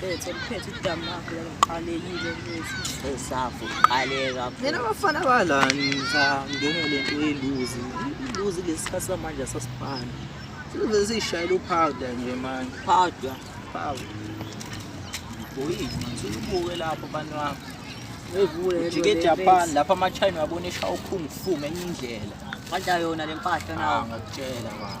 Bethu liphethe udamu lakho laliqalekile bethu. Esafu qaleka. Mina abafana balani ngizangene le nto yeluzi. Iluzi lesikhathi samanje asasifani. Sizobe siyishayela uphawuda nje manje. Phawuda. Phawuda. Boyini, ngisukubuke lapho abantu wami. Ujike eJapan lapha ama-China uyabona eshawa ukhungu fu ngenye indlela. Kanti ayona le mpahla nawo. Ngakutshela baba.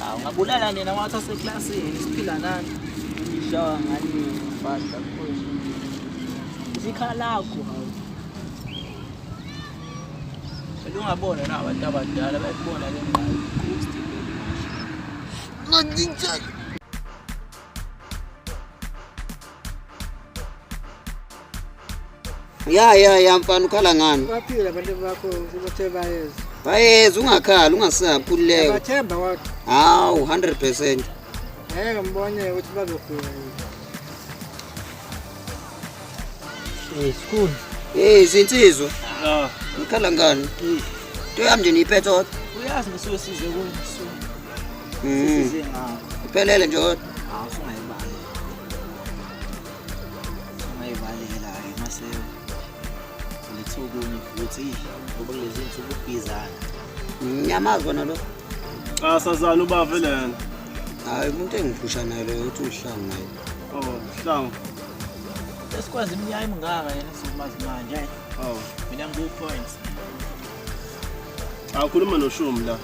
Hawu ngabulala nina wathi aseklasini siphila nani. Ngishawa ngani ngibhadla kukhona. Zikhalakho hawu. Elungabona na abantu abadala bayibona le ngqayi. Ngidinjeke. ya ya ya mfana ukhala ngani baphila abantu bakho ukuthi bayeza bayeza ungakhala ungasabi khululeka bathemba kodwa hawu 100% ngeke mbone ukuthi bazogula yini school hey sinsizwa ah ukhala ngani into yami nje niyiphethe kodwa uyazi ngisuke size kuyo mm. size ngakho iphelele nje kodwa ungayivalela ke mase ulethe okunye futhi ngoba kulezi nsuku ubhizana ngiyamazi wona lo xa sazana ubave lena hayi umuntu engiphusha naye loyo uthi uhlangu naye oh hlangu esikwazi iminyaka emingaka yena sizomazi manje awu mina ngiku-points Awukhuluma noshumi la.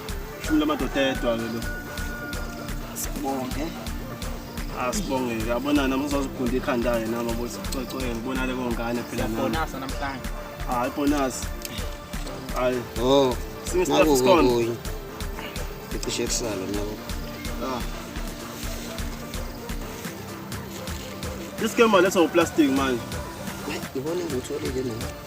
Shumi lamadoda edwa ke lo. Sibonge. Asibonge ke. Abona nami uzozigunda ikhanda ke nami bothi coco ke ngibona le kongane phela nami. Bonasa namhlanje. Hayi bonasa. Hayi. Oh. Since the first one. Ngicishe kusala nabo. Ah. This game let's go plastic man. Ibona ngutholile mina.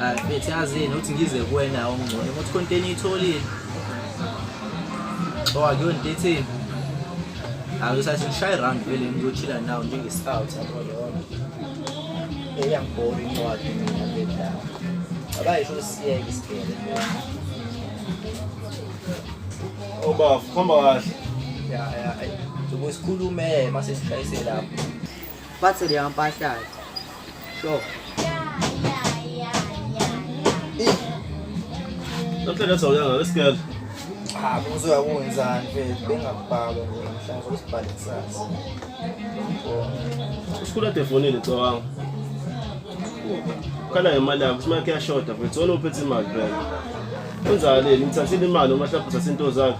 Ah, mfethu yazini uthi ngize kuwena ongcono ukuthi konteni itholile so akuyona into etheni angisathi ngishaye round vele ngiyochila nawo njengescout yabo lona eyangibhora incwadi mina bedlala abayisho usiyeke isibhele obafu khomba kahle ya ya sokusikhulume mase sishayise lapho Bathi leya mpahlati. Sure. Namhlanje sawuyanga lesikele. Cha kuzoya kunjani mfethu bengakubhaka mhlawumbe usibhale kusasa. Usikhula defonile cawanga. Khala ngemali yakho, simake kuyashoda mfethu. Wena uphethe imali phela. Kunjani? Ngithathile imali uma hlapha uthathe into zakho.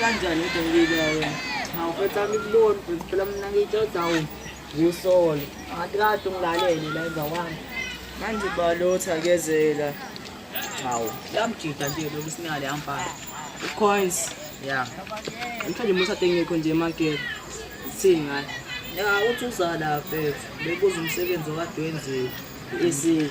kanjani kodwa ngibika wena hawu mfethu ami kuboni mfethu phela mina ngiyitshoda wu ngiwusole angathi kade ungilalele la emva kwami manje balotha kezela hawu lamjida nje lokhu sinale ampala ucoins ya mhlawumbe umuntu atengekho nje emakethe sithini ngayo ya uthi uzala mfethu bebuza umsebenzi okade wenziwe esi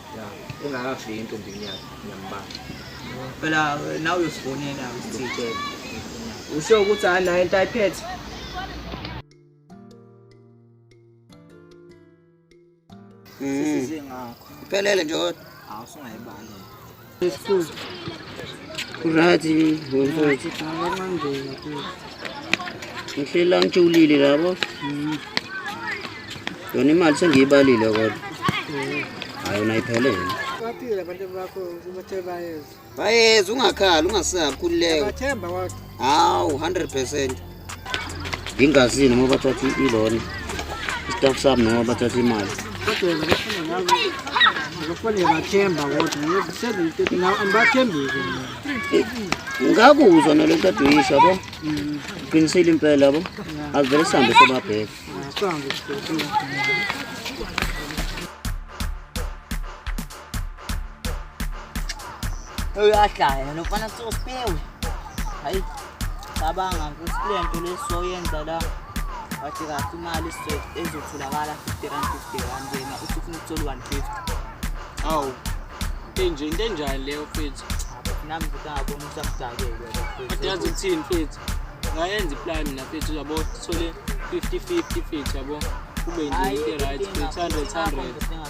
engakafiki entombini yakhe ngiyambala phela nawe uyosifonela usithele usho ukuthi hayi nayo into ayiphethe sisize ngakho phelele nje kodwa awusungayibali Kurati mfowethu. Ngihlela ngijulile labo. Yona imali sengiyibalile kodwa. Hayi unayiphelele. Bathile abantu bakho ukuthi bayeza. Bayeza ungakhali ungasakhululeka. Bathemba kodwa. Hawu 100%. ngingazini noma bathatha iloni istaff sami noma bathatha imali ngakuzwa nale nto aduyisha bo qinisile impela bo azivele sihambe sobabheka uyahlaya lofana sosipewe hayi cabanga ukuthi kule nto lesoyenza la wathi kahle imali ezotholakala 50 rand 50 rand yena uthi ufuna ukuthola 150 awu into enje into enjani leyo mfethu nami futhi angabona ukuthi amdakele kodwa yazi ukuthini mfethu ngayenza iplan mina mfethu uyabo sithole 50 50 mfethu yabo kube nje into right 100 100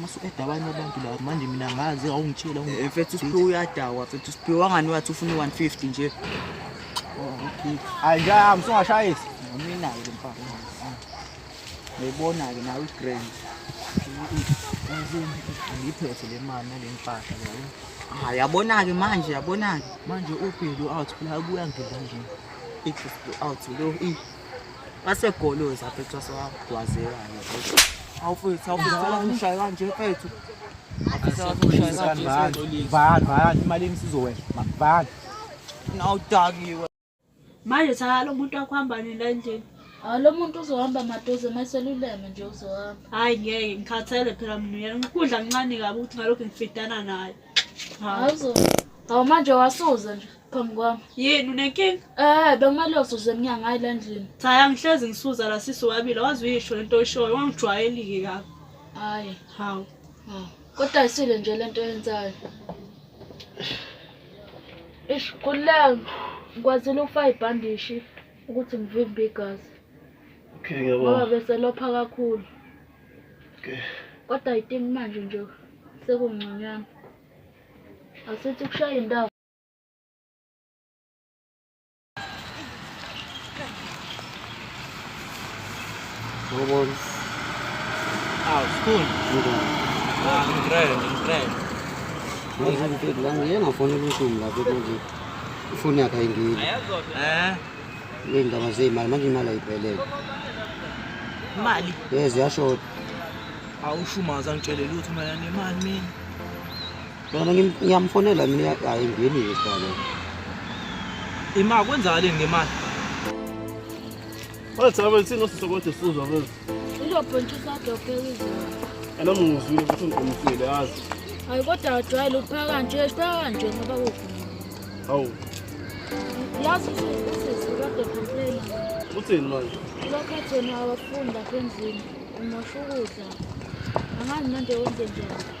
mase ueda abanye abantu la manje mina ngazi awungitshela eh, mfethu usiphiwe uyadakwa mfethu usiphiwe wangani wathi ufuna u-150 nje oh, okay hayi ngiyahamba usungashayisi mina-ke le mfana ngiyibona-ke nawe igrand ngiyiphethe le mali nale mpahla leyo ah yabona-ke manje yabona-ke manje ubhelu out phela abuya ngidla nje i-out lo wasegoloza mfethu wasewagwazeka awufethu awufethu wakushaya kanje mfethu imalini sizowehla bani nawudakiwe manje cha lo muntu wakuhamba nini la endlini hawu ah, lo muntu uzohamba maduze uma seluleme nje uzohamba hhayi ngeke ngikhathele phela mina uyena ukudla kuncane kabi ukuthi ngalokhu ngifidana naye hawu manje wasuza nje phambi kwami yini unenkinga eh bekumele uzuze emnyango hayi la ndlini cha angihlezi ngisuza la sisi wabile wazi uyisho lento oyishoyo wangijwayelike kabi hayi hawu kodwa ayisile nje lento yenzayo ish kula ngikwazile ukufaka ibhandishi ukuthi ngivimbe igazi okay ngiyabona ngoba bese lopha kakhulu okay kodwa ayitimi manje nje sekungconywana asithi kushaya indawo Robots. Ah, school. Ah, in train, in train. Manje ngifike la ngiyena ngifona ubuhlungu lapho manje. Ifoni yakhe ayingili. Eh. Ngindaba zeyimali manje imali ayiphelele. Imali. Yes, yashoda. Awushumaza ngitshele lutho mayane imali mina. Mina ngiyamfonela mina hayi ngeni isibalo. Ima kwenzakaleni ngemali? What's up? Sino sisokothi sizwa manje. Uzophontsha udokotela izolo. Ana mungizwile ukuthi ngiqomisile yazi. Hayi kodwa wajwayele ukuphaka kanje, siphaka kanje ngoba kuvuma. Hawu. Yazi usisi kade complain. Uthini manje? Lokho thina abafunda endlini umosha ukudla. Angazi manje wenze njani.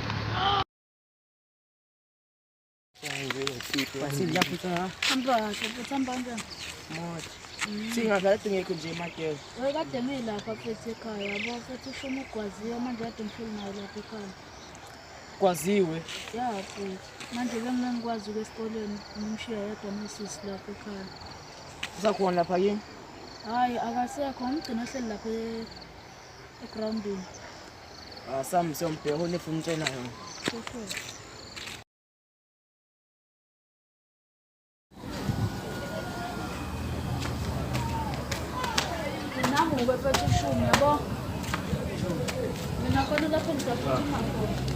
singazathi ngekho nje emakela Wewe kade ngilapha futhi ekhaya yabo futhi usho uma ugwaziwe manje kade ngihleli nayo lapha ekhaya kwaziwe ya futhi manje bengingangikwazi uke esikoleni ngimshiya yedwa nosisi lapha ekhaya usakhona lapha kini hhayi akasekho ngimgcina ohleli lapha e- egrawundini Ah, Sam, siyom bheka une fun tjena yona. Namu ngibephethe ishumi yabo. Mina khona lapho ngizophuma khona.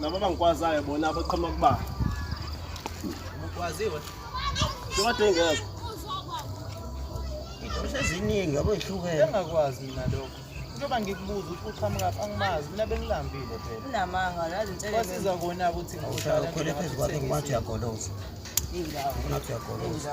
Laba abangikwazayo bona abaqhamuka kuba. Ukwaziwe. Sekade ngeke. Izinto eziningi yabo ihlukene. Engakwazi mina lokho. Njengoba ngikubuza ukuthi uqhamuka phi angimazi mina bengilambile phela. Unamanga nazi inselelo. Kwasiza kona ukuthi ngihlala khona phezu kwakhe ngomathi uyagoloza. Indawo. Ngomathi uyagoloza.